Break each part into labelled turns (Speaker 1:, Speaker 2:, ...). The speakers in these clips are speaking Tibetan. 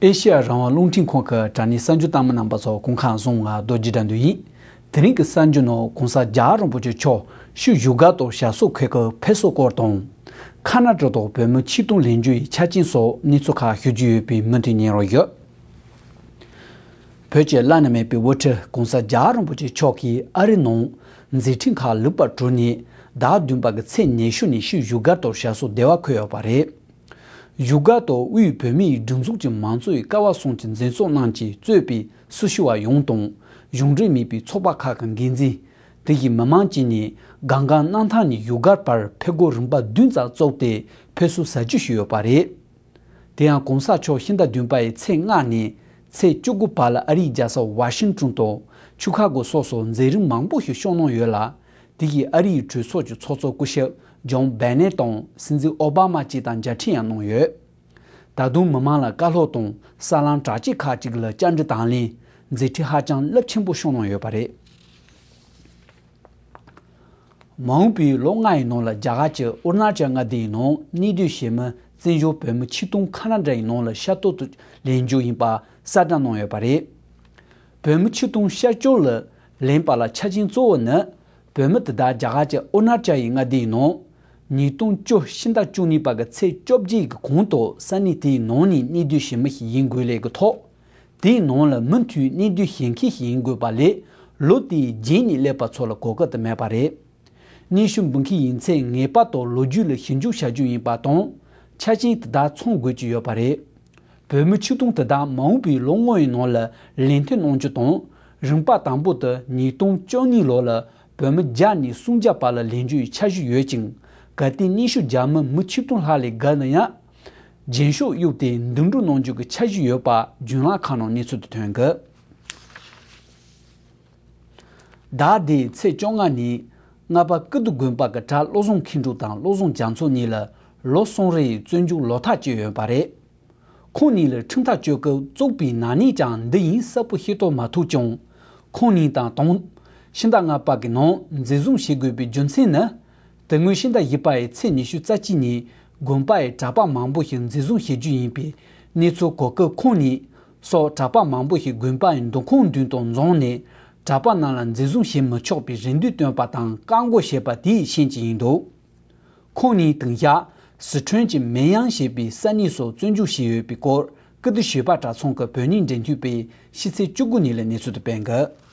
Speaker 1: ཨེ་ཤེ་ཡ་རང་དབང་རླུང་འཕྲིན་ཁང་གི་དྲ་གནས་གསར་འགྱུར་བཏང་མི་རྣམས་པ་ཚོ་གུང་ཁང་བཟུང་ང་རྡོ་རྗེ་དྲ་འདུལ་ཡིན། དེ་རིང་གི་གསར་འགྱུར་ནང་གུང་ས་རྒྱ་རོང་པོ་ཆེ་ཆོག་ཤུ་བཞུགས་སྒར་དོ་ཞག་སོགས་ཁོས་ཁུ་བྷེ་སོགས་སྐོར་དང། ཁ་ན་ཏྲོ་དང་བོད་མི་ཆིག་སྟོང་ལེན་རྒྱུ་ཡི་ཆ་རྐྱེན་སོགས་གནས་ཚུལ་ཁག་ཞུ་རྒྱུ་ཡོད་པའི་མུ་མཐུད་ཉན་རོགས་ཡོད། བོད་ཀྱི་བླ་ན་མེད་པའི་དབུ་ཁྲིད་གོང་ས་རྒྱ་རིན་པོ་ཆེ་མཆོག་གིས་ཨ་རིའི་ནང་མཛད་འཕྲིན་ཁག་ལེགས་པར་གྲུབ་ནས་ཟླ་བདུན་པ་གི་ཚེས་ཉེར་ཤུ་ནས་ཤུལ་བཞུགས་སྒར་དུ་ཞལ་གསོ་བདེ་བ་འཁོད་ཡོད་པ་རེད། བཞུགས་སྒར་དུ་དབུས་བོད་མིའི་སྒྲིག་འཛུགས་ཀྱི་མང་གཙོའི་སྐལ་བ་སྲུང་གི་མཛད་གཙོ་རྣམས་ཀྱིས་གཙོས་པའི་སྲི་ཞུ་བ་ཡོངས་དང་གཞུང་འབྲེལ་མིན་པའི་ཚོགས་པ་ཁག་གི་འགན་འཛིན། བོད་ཀྱི་མི་དམངས་བཅས་ནས་སྒང་སྒང་གནང་ཐང་ནས་བཞུགས་སྒར་བར་ཕེབས་སྒོ་རིམ་པ་བདུན་ཙམ་བཙུགས་ཏེ་ཕེབས་བསུ་ཟ་རྒྱུ་ཞུས་ཡོད་པ་རེད། དེ་ཡང་གོང་ས་མཆོག་ཤིང་རྟ་བདུན་པ་ཡི་ཚེས་ལྔ་ནས་ཚེས་བཅུ་དགུ་བར་ལ་ཨ་རིའི་རྒྱལ་ས་ཝཱ་ཤིང་ཀྲུང་དང་ཆུ་ཁ་གོ་སོགས་སུ་མཛད་རིམ་མང་པོ་ཞིག་ཤོག་གནང་ཡོད་ལ། དེ་བཞིན་ཨ་རིའི་གྲོས་ཚོགས་ཀྱི་ཚོགས་གཙོ་སྐུ་ཞབས་ཇཱོན་བྷེ་ནེ་དང་སྲིད་འཛིན་ཨོ་བྷ་མ་བཅས་དང་མཇལ་འཕྲད་ཡང་གནང་ཡོད། ད་དུང་མི་མང་ལ་བཀའ་སློབ་དང་ས་ལམ་དྲག་སྐྱེད་ཁག་ཅིག་ལ་བཅར་འདྲི་དང་ལེན་མཛད་འཕྲིན་ཧ་ཅང་རླབས་ཆེན་པོ་ཤོག་གནང་ཡོད་པ་རེད། མ་འོངས་པའི་ལོ་ལྔ་ཡི་ནང་ལ་རྒྱ་གར་གྱི་ཨུར་ནར་ཅལ་མངའ་སྡེ་ཡི་ནང་གནས་སྡོད་བྱེད་མི་བཙན་བྱོལ་བོད་མི་ཆིག་སྟོང་ཁ་ན་འདྲ་ཡི་ནང་ལ་ཤར་ཏོག་ཏུ་ལེན་རྒྱུ་ཡིན་པ་གསལ་བསྒྲགས་གནང་ཡོད་པ་རེད། བོད་མི་ཆིག་སྟོང་ཤར་བསྐྱོར་ལ་ལེན་པ་ལ་ཆ་རྐྱེན་གཙོ་བོ་ནི་བོད་མི་དེ་དག་རྒྱ་གར་གྱི་ཨུར་ནར་ཅལ་ཡི་མངའ་སྡེ་ཡི་ནང་ཉིས་སྟོང་བཅུ་བཞི་ཟླ་བཅུ་གཉིས་པ་གི་ཚེས་བཅོ་བརྒྱད་གི་གོང་དུ་ས་གནས་དེའི་ནང་ནས་གནས་སྡོད་བྱེད་མི་ཞིག་ཡིན་དགོས་ལས་ཀྱི་ཐོག་དེའི་ནང་ལ་མུ་མཐུད་གནས་དུས་གཞན་མཁས་ཤིག་ཡིན་དགོས་པ་ལས་ལོ་དེའི་རྗེས་ནས་སླེབས་པ་ཚོ་ལ་གོ་སྐབས་དེ་མེད་པ་རེད། གནས་ཤུགས་འབུལ་མཁན་ཡིན་ཚེ་ངེས་པ་དོག་ལོ་རྒྱུས་ལ་ཞིབ་འཇུག་བྱ་རྒྱུ་ཡིན་པ་དང་ཆ་རྐྱེན་དེ་དག་ཚང་དགོས་ཀྱི་ཡོད་པ་རེད། བོད་མི་ཆིག་སྟོང་དེ་དག་མ་འོངས་པའི་ལོ་ལྔ་ཡི་ནང་ལ་ལས་མཐུད་གནང་རྒྱུ་དང་རིམ་པ་དང་པོ་དུ་ཉིས་སྟོང་བཅོ་གཉིས་ལོ་ལ་བོད་མི་བརྒྱ་ནས་སུམ་བརྒྱ་བར་ལ་ལེན་རྒྱུ་ཡི་འཆར་གཞི་ཡོད་ཅིང་གལ་ཏེ་གནས་ཤུགས་རྒྱ་མི་མི་ཆིག་སྟོང་ལྷག་ལས་བརྒལ་ན་ཡང། རྒྱན་ཤོག་གཡུགས་ཏེ་འདུན་སྒྲུག་གནང་རྒྱུ་གི་འཆར་གཞི་ཡོད་པ་རྒྱུན་ལག་ཁང་ནང་གནས་ཚུལ་དུ་ཐོན་གི། ཟླ་འདིའི་ཚེས་བཅོ་ལྔ་ཉིན་རྔ་པ་ཀི་ཏུ་དགོན་པ་གི་གྲྭ་བློ་བཟང་མཁས་འབྲུག་དང་བློ་བཟང་རྒྱ་མཚོ་གཉིས་ལ་ལོ་གསུམ་རེའི་བཙོན་འཇུག་ལོ་ཐག་བཅད་ཡོད་པ་རེད། ཁོང་གཉིས་ལ་ཁྲིམས་ཐག་གཅོད་སྐབས་བཙུགས་པའི་ནག་ཉེས་ཀྱང་འདི་ཡིན་གསལ་པོ་ཤེས་རྟོགས་མ་ཐུབ་ཀྱང། ཁོང་གཉིས་དང་དང། ཤིང་རྟ་རྔ་པ་གི་ནང་འཛིན་བཟུང་བྱེད་དགོས་པའི་རྒྱུ་མཚན་ནི། དེ་སྔོན་ཤིང་རྟ་བཞི་པའི་ཚེས་ཉི་ཤུ་རྩ་གཅིག་ཉིན་དགོན་པའི་གྲྭ་པ་མང་པོ་ཞིག་འཛིན་བཟུང་བྱེད་རྒྱུ་ཡིན་པའི་གནས་ཚུལ་གོ་སྐབས་ཁོང་ཉིད་སོགས་གྲྭ་པ་མང་པོ་ཞིག་དགོན་པའི་མདོ་ཁུངས་མདུན་དང་རྫོང་ནས་གྲྭ་པ་རྣམས་ལ་འཛིན་བཟུང་བྱེད་མི་ཆོག་པའི་རེ་འདུན་བཏོན་པ་དང་བཀག་འགོག་བྱས་པ་དེའི་ཤན་གཅིག་ཡིན་འདུག་ཁོང་ཉིད་དུང་ཞྭ་ཟི་ཁྲོན་གྱི་མེན་དབྱང་ཞེས་པའི་ས་གནས་སུ་བཙོན་འཇུག་བྱས་ཡོད་པའི་སྐོར་ཀིརྟི་བྱིས་པ་གྲྭ་ཚང་གི་བོད་རྙིང་འབྲེལ་མཐུད་པས་ཕྱི་ཚེས་བཅུ་དགུ་ཉིན་ལས་གནས་ཚུལ་དུ་སྤེལ་འདུག།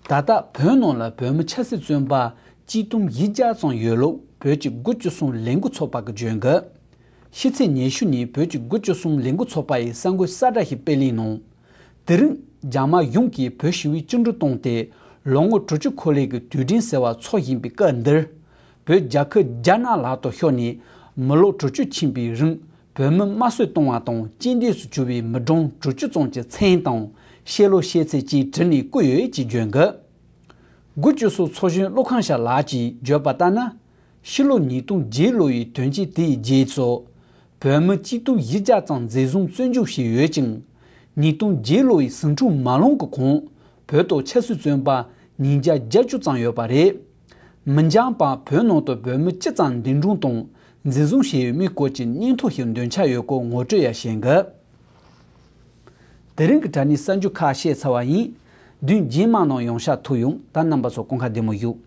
Speaker 1: ད་ལྟ་བོད་ནང་ལ་བོད་མི་ཆབ་སྲིད་བཙོན་པ་སྤྱི་སྟོང་ཡི་བརྒྱ་ཙམ་ཡོད་ལུགས་བོད་ཀྱི་དགུ་བཅུ་གསུམ་ལས་འགུལ་ཚོགས་པ་གིས་བརྗོད་འདུག་ཤི་ཚེ་ཉེ་ཤུ་ནི་བོད་ཀྱི་དགུ་བཅུ་གསུམ་ལས་འགུལ་ཚོགས་པ་ཡི་གསར་འགོད་གསལ་བསྒྲགས་ཤིག་སྤེལ་གླིང་ནང། དེ་རིང་རྒྱ་དམར་གཞུང་གིས་བོད་ཞི་བའི་བཅིངས་འགྲོལ་བཏང་སྟེ་ལོ་ངོ་དྲུག་ཅུ་འཁོར་ལེགས་ཀྱི་དུས་དྲན་ཟེར་བ་འཚོགས་བཞིན་པའི་སྐབས་འདིར། བོད་རྒྱ་ཁུལ་རྒྱ་ནག་ལག་ཏུ་ཤོར་ནས་མི་ལོ་དྲུག་ཅུ་ཕྱིན་པའི་རིང་བོད་མི་དམར་གསོད་གཏོང་བ་དང་གཅིན་སྡུད་སུ་གྱུར་བའི་མི་གྲངས་དྲུག་ཅུ་ཙམ་གྱི་མཚན་དང་ཤེས་ལོ་ཤེས་ཚད་བཅས་བྲིས་ནས་བསྐུར་ཡོད་ཅེས་བརྗོད་འདུག་དགུ་བཅུ་སོ་ཚོགས་གཞོན་ཀླུ་ཁང་ཤ་ལགས་ཀྱིས་བརྗོད་པ་ལྟར་ན། ཕྱི་ལོ་ཉིས་སྟོང་བརྒྱད་ལོ་ཡི་དོན་རྐྱེན་དེའི་རྗེས་སུ། བོད་མི་སྤྱི་སྟུག་བཞི་བརྒྱ་ཙམ་འཛིན་བཟུང་བཙོན་འཇུག་བྱས་ཡོད་ཅིང། ཉིས་སྟོང་བརྒྱད་ལོ་ཡི་ཟིང་འཁྲུག་མ་ལོངས་ཀྱི་གོང་བོད་དུ་ཆབ་སྲིད་བཙོན་པ་ཉིས་བརྒྱ་བརྒྱད་ཅུ་ཙམ་ཡོད་པ་རེད། མི་འགྱངས་པར་བོད་ནང་དུ་བོད་མི་ཅི་ཙམ་འདུས་འདྲོངས་དང་འཛིན་བཟུང་བྱས་ཡོད་མེད་སྐོར་གྱི་སྙན་ཐོ་ཞིག་འདོན་འཆར་ཡོད་སྐོར་ངོ་སྤྲོད་ཡང་བྱེད་འགོད་དེ་རིང་གི་དྲ་གནས་གསར་འགྱུར་ཁག་བཤད་ཚར་བ་ཡིན། བདུན་རྗེས་མ་ནང་ཡོང་ཤག་ཐུག་ཡོང་ད་རྣམ་པ་ཚོ་སྐོང་ཁ་བདེ་མོ་བཞུགས།